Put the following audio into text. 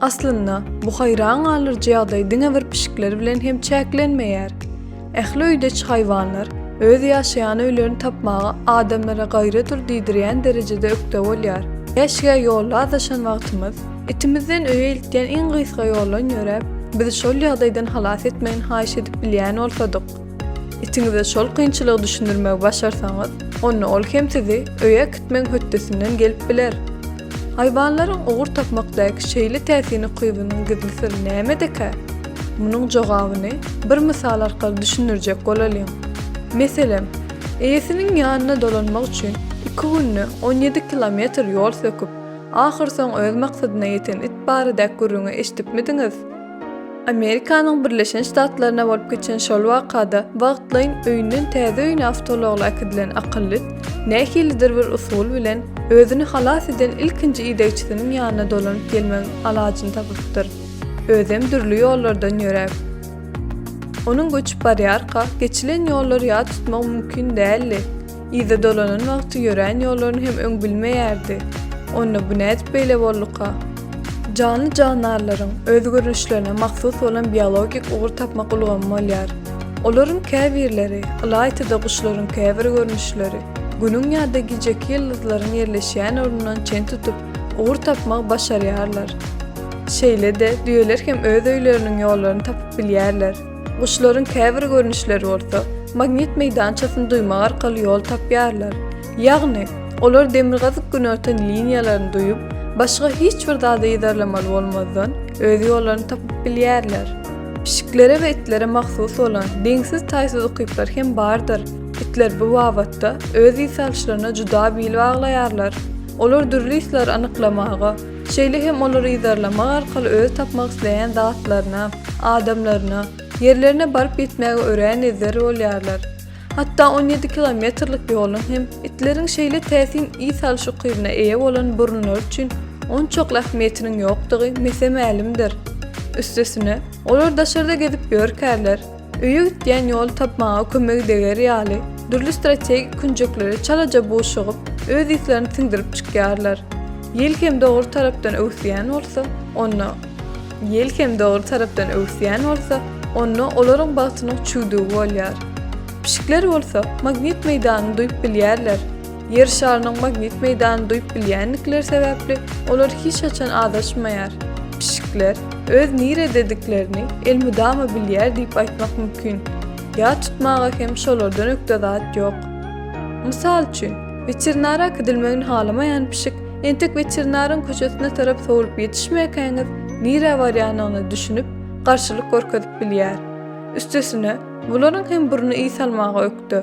Aslynda, bu haýran galyjy ýagdaý diňe bir pişikler bilen hem çäklenmeýär. Ähli öýdeçi haýwanlar öz ýaşaýan öýlerini tapmaga adamlara gaýradyr diýdirýän derejede ökde bolýar. Keşgä ýolda azaşan wagtymyz, itimizden öýe iltýän iň gysga ýoldan ýöräp, bizi şol ýagdaýdan halas etmegini haýyş edip bilýän bolsadyk. Itiňize şol kynçylygy düşündirmegi başarsaňyz, onda ol hem sizi öýe äkitmegiň hötdesinden gelip biler. Haýwanlaryň ugur tapmakdaky şeýle täsin ukybynyň gizli syry nämedekä? Munuň jogabyny bir mysal arkaly düşündirjek bolalyň. Meselem, eýesiniň ýanyna dolanmak üçin iki günde on ýedi kilometr ýol söküp, ahyrsoňy öz maksadyna ýeten it barada gürrüňi eşidipmidiňiz? Amerikanyň Birleşen Ştatlaryna bolup geçen şol wakada wagtlaýyn öýünden täze öýüne awtoulagly äkidilen akylly it nähilidir bir usul bilen özüni halas eden ilkinji idegçisiniň ýanyna dolanyp gelmegiň alajyny tapypdyr. Özem dürli ýollardan ýöräp. Onuň göçüp barýarka geçilen ýollary ýat tutmagy mümkin däldi. Yza dolanan wagty ýörän ýollaryny hem öň bilmeýärdi. Onda bu nädip beýle bolduka? Janly-jandarlaryň öz görnüşlerine mahsus bolan biologik ugur tapmak ulgamy bolýar. Olaryň käbirleri, ylaýta-da guşlaryň käbir görnüşleri, Günüň ýa-da gijeki ýyldyzlaryň ýerleşýän ornundan çen tutup, ugur tapmagy başarýarlar. Şeýle-de, düýeler hem öz öýleriniň ýollaryny tapyp bilýärler. Guşlaryň käbir görnüşleri bolsa, magnit meýdançasyny duýmak arkaly ýol tapýarlar. Ýagny, olar demirgazyk-günortan liniýalaryny duýup, başga hiç bir zady yzarlamaly bolmazdan, öz ýollaryny tapyp bilýärler. Pişiklere we itlere mahsus bolan deňsiz-taýsyz ukyplar hem bardyr. Itler bu babatda öz ýsalyşlaryna juda bil baglaýarlar. Olar dürli ýslary anyklamaga, Şeýle hem olary yzarlamak arkaly özi tapmak isleýän zatlaryna, adamlaryna, ýerlerine baryp ýetmäge örän ezber bolýarlar. Hatda on ýedi kilometrlik ýoluň hem itleriň şeýle täsin yz salyş ukybyna eýe bolan burunlary üçin onçakly ähmiýetiniň ýokdugy mese-mälimdir. Üstesine, olar daşarda gezip ýörkärler. Öýe gidýän ýoly tapmaga kömegi deger ýaly, dürli strategik künjeklere çalaja buşugyp, öz yzlaryny siňdirip çykýarlar. Ýel hem dogry tarapdan öwüsýän bolsa, onda. Ýel hem dogry tarapdan öwüsýän bolsa, onda olaryň bagtynyň çüwdügi bolýar. Pişikler bolsa magnit meýdanyny duýup bilýärler. Ýer şarynyň magnit meýdanyny duýup bilýändikleri sebäpli, olar hiç haçan azaşmaýar. Pişikler öz niredediklerini elmydama bilýär diýip aýtmak mümkin. Ýat tutmaga hem şolardan ökde zat ýok. Mysal üçin, weterinara gidilmegini halamaýan pişik entek weterinaryň köçesine tarap sowlup ýetişmäkäňiz, nirä barýanyny düşünip, garşylyk görkezip bilýär. Üstesine, bularyň hem burny ys almaga ökde.